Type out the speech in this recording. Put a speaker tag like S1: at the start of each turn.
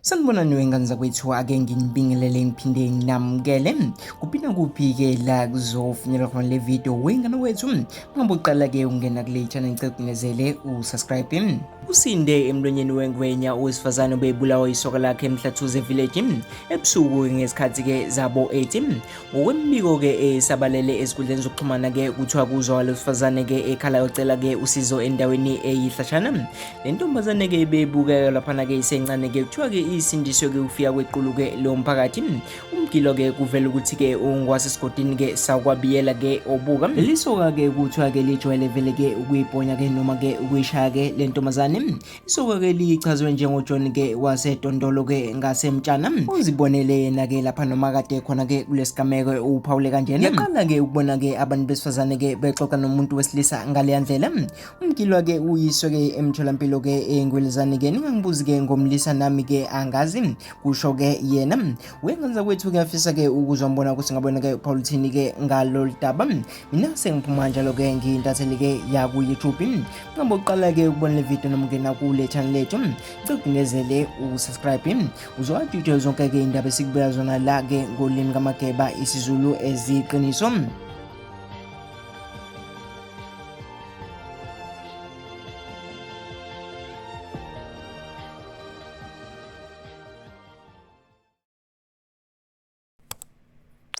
S1: Sanibonani wengane zakwethu ake nginibingelele ngiphinde nginamukele kuphi nakuphi-ke la kuzofinyelwa khona le video wengane wethu ungabe uqala-ke ungena kule channel ngicegcinezele usubscribe usinde emlonyeni wengwenya owesifazane obebulawa isoka lakhe emhlathuze village ebusuku ngesikhathi-ke zabo 8 ngokwemibiko-ke esabalele eh, ezinkundleni zokuxhumana-ke kuthiwa kuzwa wesifazane-ke ekhala yocela-ke usizo endaweni eyihlashana eh, le ntombazane-ke bebukeka laphana-ke isencane-ke kuthiwa-ke isindiswe-ke ukufika kwequlu-ke lo mphakathi umgilo-ke kuvela ukuthi-ke ungwasesigodini-ke sakwabiyela-ke obuka lelisoka-ke kuthiwa-ke lijwayele vele-ke ukuyibhonya-ke noma-ke ukuyishaya-ke le ntombazane Isoko ke lichazwe njengoJohn ke waseDondolo ke ngaseMtshana uzibonele yena ke lapha noma kade khona ke kulesigameko uphawule kanjena yaqala ke ukubona ke abantu besifazane ke bexoxa nomuntu wesilisa ngaleya ndlela umgilwa ke uyiswe ke emtholampilo ke engwelezane ke ningangibuzi ke ngomlisa nami ke angazi kusho ke yena wengenza kwethu kuyafisa ke ukuzwa mbona ukuthi ngabona ke uphawula uthini ke ngalolu daba Nase ngiphuma njalo ke ngintatheli ke ya ku YouTube nqamba uqala ke ukubona le video noma ungena kule channel yethu cigindezele u subscribe uzwa details zonke ke indaba esikubeka zona la ke ngolimi kamageba isiZulu eziqiniso